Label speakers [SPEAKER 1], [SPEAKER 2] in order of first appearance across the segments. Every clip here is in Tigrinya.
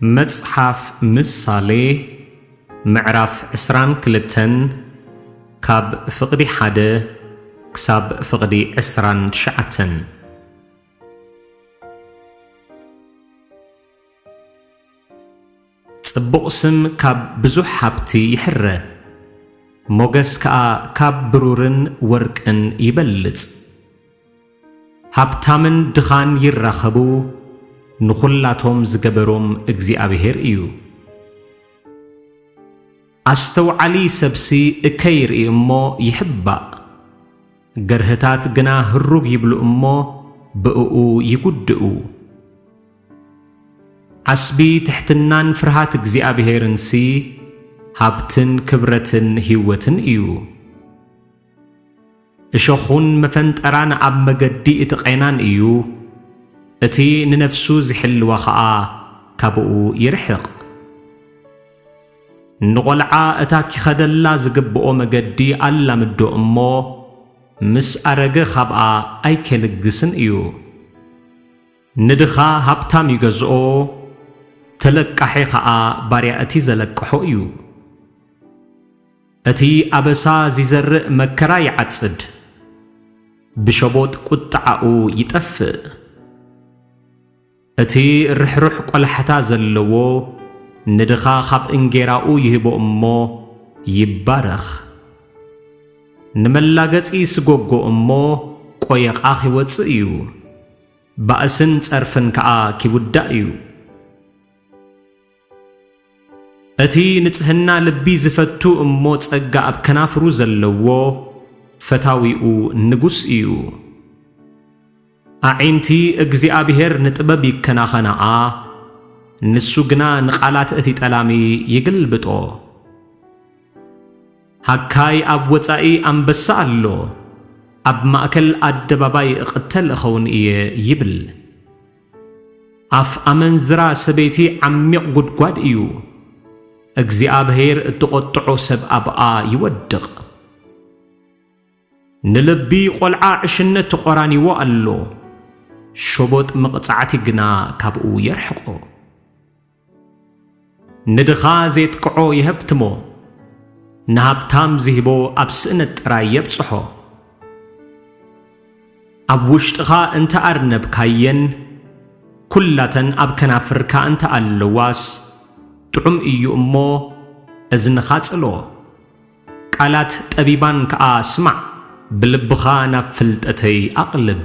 [SPEAKER 1] መጽሓፍ ምሳሌ ምዕራፍ ዕስራን ክልተን ካብ ፍቕዲ ሓደ ክሳብ ፍቕዲ ዕስራን ትሽዓተን ጽቡቕ ስም ካብ ብዙሕ ሃብቲ ይሕረ፣ ሞገስ ከኣ ካብ ብሩርን ወርቅን ይበልጽ። ሃብታምን ድኻን ይራኸቡ፣ ንዅላቶም ዝገበሮም እግዚኣብሄር እዩ። ኣስተውዓሊ ሰብሲ እከይ ይርኢ እሞ ይሕባእ፣ ገርህታት ግና ህሩግ ይብሉ እሞ ብእኡ ይጕድኡ። ዓስቢ ትሕትናን ፍርሃት እግዚኣብሔርንሲ ሃብትን ክብረትን ህይወትን እዩ። እሾዅን መፈንጠራን ኣብ መገዲ እቲ ቘናን እዩ፣ እቲ ንነፍሱ ዚሕልዋ ኸኣ ካብኡ ይርሕቕ። ንቖልዓ እታ ኪኸደላ ዝግብኦ መገዲ ኣላምዶ እሞ፣ ምስ ኣረገ ኻብኣ ኣይኬልግስን እዩ። ንድኻ ሃብታም ይገዝኦ፣ ተለቃሒ ኸኣ ባርያ እቲ ዘለቅሖ እዩ። እቲ ኣበሳ ዚዘርእ መከራ ይዓጽድ፣ ብሸቦጥ ቍጥዓኡ ይጠፍእ። እቲ ርሕሩሕ ቈላሕታ ዘለዎ ንድኻ ኻብ እንጌራኡ ይህቦ እሞ ይባረኽ። ንመላገጺ ይስጐጎ እሞ ቈየቛ ኺወጽእ እዩ። ባእስን ጸርፍን ከኣ ኪውዳእ እዩ። እቲ ንጽህና ልቢ ዚፈቱ እሞ ጸጋ ኣብ ከናፍሩ ዘለዎ ፈታዊኡ ንጉስ እዩ። ኣዒንቲ እግዚኣብሄር ንጥበብ ይከናኸናኣ፣ ንሱ ግና ንቓላት እቲ ጠላሚ ይግልብጦ። ሃካይ ኣብ ወጻኢ ኣንበሳ ኣሎ፣ ኣብ ማእከል ኣደባባይ እቕተል እኸውን እየ ይብል። ኣፍ ኣመንዝራ ሰበይቲ ዓሚቕ ጉድጓድ እዩ፣ እግዚኣብሔር እተቖጥዖ ሰብ ኣብኣ ይወድቕ። ንልቢ ቖልዓ ዕሽነት ተቖራኒዎ ኣሎ፣ ሸቦጥ መቕጻዕቲ ግና ካብኡ የርሕቖ። ንድኻ ዜጥቅዖ የሀብትሞ፣ ንሃብታም ዚህቦ ኣብ ስእነት ጥራይ የብጽሖ። ኣብ ውሽጥኻ እንተ ኣርነብካየን፣ ኵላተን ኣብ ከናፍርካ እንተ ኣለዋስ፣ ጥዑም እዩ እሞ፣ እዝንኻ ጽሎ። ቃላት ጠቢባን ከኣ ስማዕ፣ ብልብኻ ናብ ፍልጠተይ ኣቕልብ።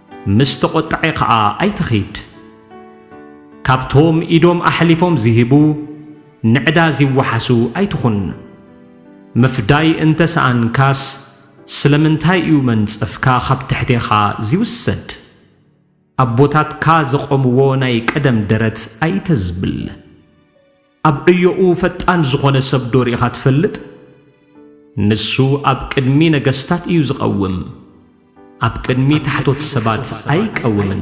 [SPEAKER 1] ምስ ተቖጣዒ ከኣ ኣይትኺድ። ካብቶም ኢዶም ኣሕሊፎም ዚህቡ፣ ንዕዳ ዚወሓሱ ኣይትኹን። ምፍዳይ እንተ ሰኣንካስ፣ ስለምንታይ እዩ መንጸፍካ ኻብ ትሕቴኻ ዚውሰድ? ኣቦታትካ ዘቘምዎ ናይ ቀደም ደረት ኣይተዝብል። ኣብ ዕዮኡ ፈጣን ዝኾነ ሰብ ዶ ርኢኻ ትፈልጥ? ንሱ ኣብ ቅድሚ ነገስታት እዩ ዝቐውም፣ ኣብ ቅድሚ ታሕቶት ሰባት ኣይቀውምን።